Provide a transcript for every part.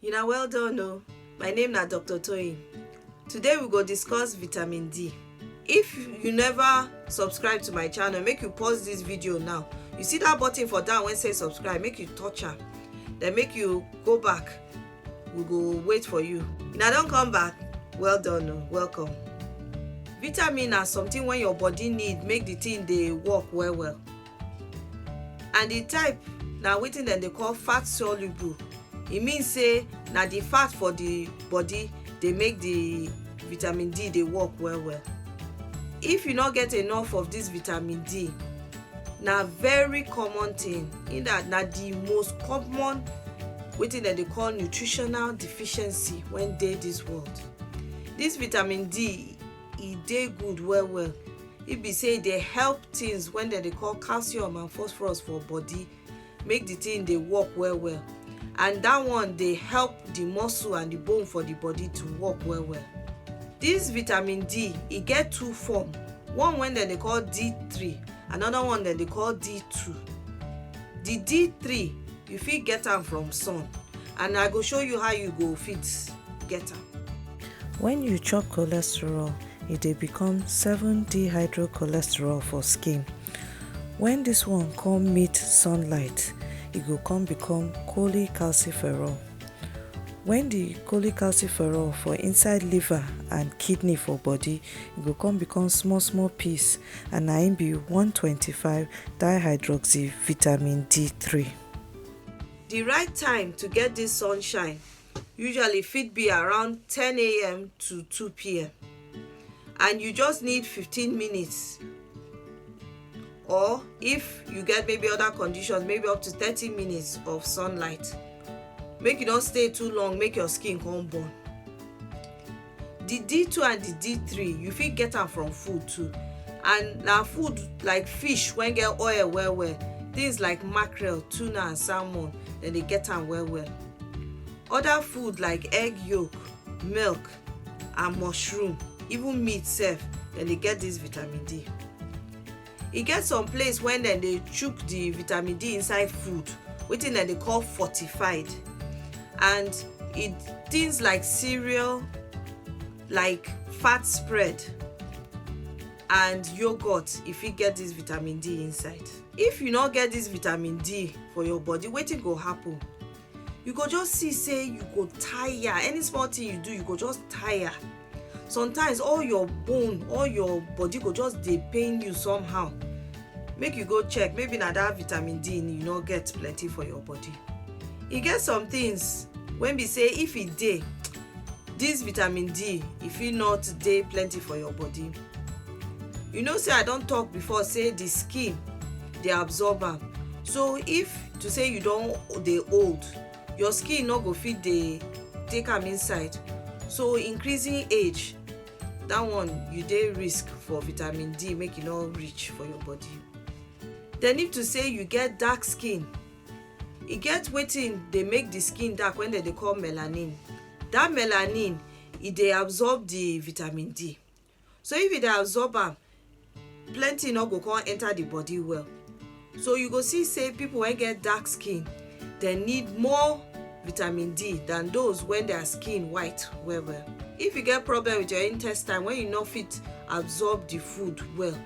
You na well done o. My name na Dr. Toyin. Today we go discuss vitamin D. If you never subscribe to my channel, make you pause this video now. You see that button for down wey say subscribe, make you touch am. Then make you go back. We go wait for you. Una don come back? Well done o. Welcome. Vitamin na something wey your body need make the thing dey work well well. and the type na wetin dem dey call fat soluble e mean say na the fat for the body dey make the vitamin d dey work well well if you no get enough of this vitamin d na very common thing in that na the most common wetin dem dey call nutritional deficiency when dey this world this vitamin d e dey good well well e be say e dey help things when dem dey call calcium and phosphorus for body make the thing dey work well well and that one dey help the muscle and the bone for the body to work well well this vitamin d e get two form one wey dem dey call d3 another one dem dey call d2 the d3 You fit get am from sun and I go show you how you go fit get am. When you chop cholesterol, e dey become 7-dehydrocholesterol for skin. When this one come meet sunlight, e go come become cholecalciferol. When the cholecalciferol for inside liver and kidney for body, e go come become small small piece and na im be one hundred and twenty five dihydroxyvitamin D three. Di right time to get dis sunshine usually fit be around ten am to two pm and you just need fifteen minutes or if you get maybe other conditions maybe up to thirty minutes of sunlight make you no stay too long make your skin come burn. the d2 and the d3 you fit get am from food too and na food like fish wey get oil well well things like mackerel tuna and salmon dem dey get am well well other food like egg yolk milk and mushroom even meat sef dem dey get this vitamin d e get some place when dem dey chook the vitamin d inside food wetin dem dey call fortified and it things like cereal like fat spread and yogurt e fit get this vitamin d inside if you no get this vitamin d for your body wetin go happen you go just see say you go tire any small thing you do you go just tire sometimes all your bone all your body go just dey pain you somehow make you go check maybe na that vitamin d you no get plenty for your body e get some things wey be say if e dey this vitamin d e fit not dey plenty for your body you know say i don talk before say the skin dey absorb am so if to say you don dey old your skin no go fit dey take am inside so increasing age that one you dey risk for vitamin d make e no reach for your body then if to say you get dark skin e get wetin dey make the skin dark wey dem dey call melanin that melanin e dey absorb the vitamin d So if you dey absorb am, plenty no go come enter the body well. So you go see say people wey get dark skin, dem need more vitamin D than those when their skin white well well. If you get problem with your intestine when you no fit absorb the food well,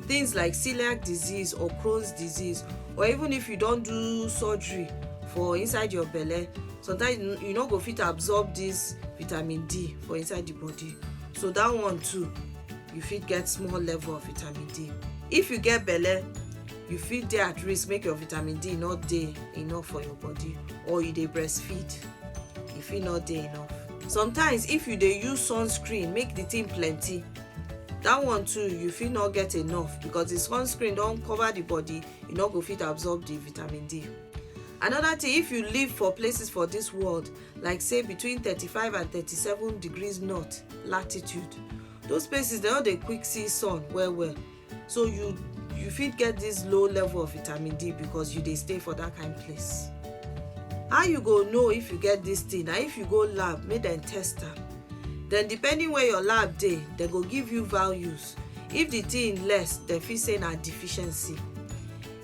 things like celiac disease or crohn's disease or even if you don do surgery for inside your belle sometimes you no go fit absorb this vitamin d for inside the body so that one too you fit get small level of vitamin d if you get belle you fit dey at risk make your vitamin d no dey enough for your body or you dey breastfeed e fit no dey enough sometimes if you dey use sunscreen make the thing plenty that one too you fit not get enough because the sunscreen don cover the body you no go fit absorb the vitamin d another thing if you live for places for this world like say between 35 and 37 degrees north latitude those places they no dey quick see sun well well so you you fit get this low level of vitamin d because you dey stay for that kind place how you go know if you get this thing na if you go lab make dem test am then depending where your lab dey dem go give you values if the thing less dem fit say na deficiency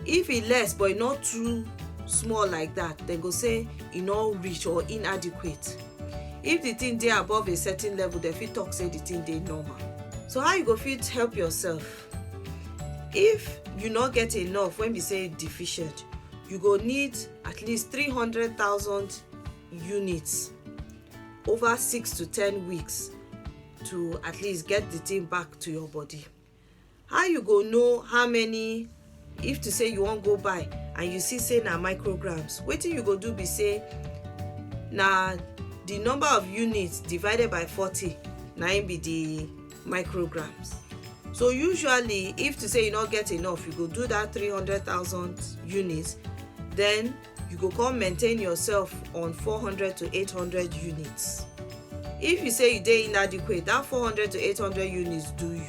if e less but e no too small like that dem go say e no reach or inadequate If the thing dey above a certain level, dem fit talk say the thing dey normal. So how you go fit help yourself? If you no get enough when be say deficient, you go need at least 300,000 units over six to ten weeks to at least get the thing back to your body. how you go know how many if to say you wan go buy and you see say na micrograms wetin you go do be say na the number of units divided by 40 na im be the micrograms so usually if to say you no get enough you go do that 300000 units then you go come maintain yourself on 400 to 800 units if you say you dey inadequate that 400 to 800 units do you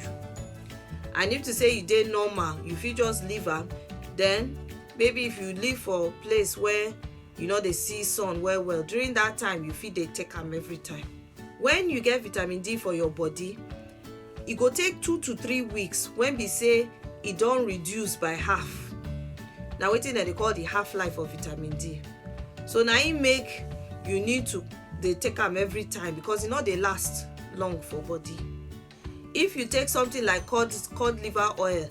and if to say you dey normal you fit just leave am then maybe if you live for place where you no dey see sun well well during that time you fit dey take am every time when you get vitamin d for your body e go take two to three weeks when be say e don reduce by half na wetin dem dey call the half life of vitamin d so na im make you need to dey take am every time because e no dey last long for body If you take something like cod, cod liver oil,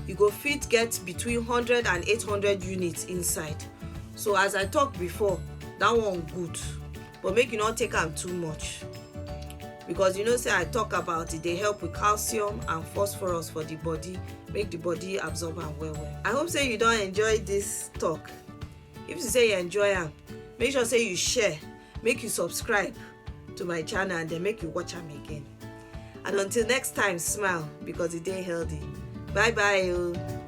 you go fit get between 100 and 800 units inside. So as I talk before, that one good, but make you not take am too much. Because you know say I talk about it, they help with calcium and phosphorus for the body, make the body absorb am well well. I hope say you don enjoy this talk. If you say you enjoy am, make sure say you share, make you subscribe. to my channel and then make you watch am again and until next time smile because e dey healthy bye bye o. Oh.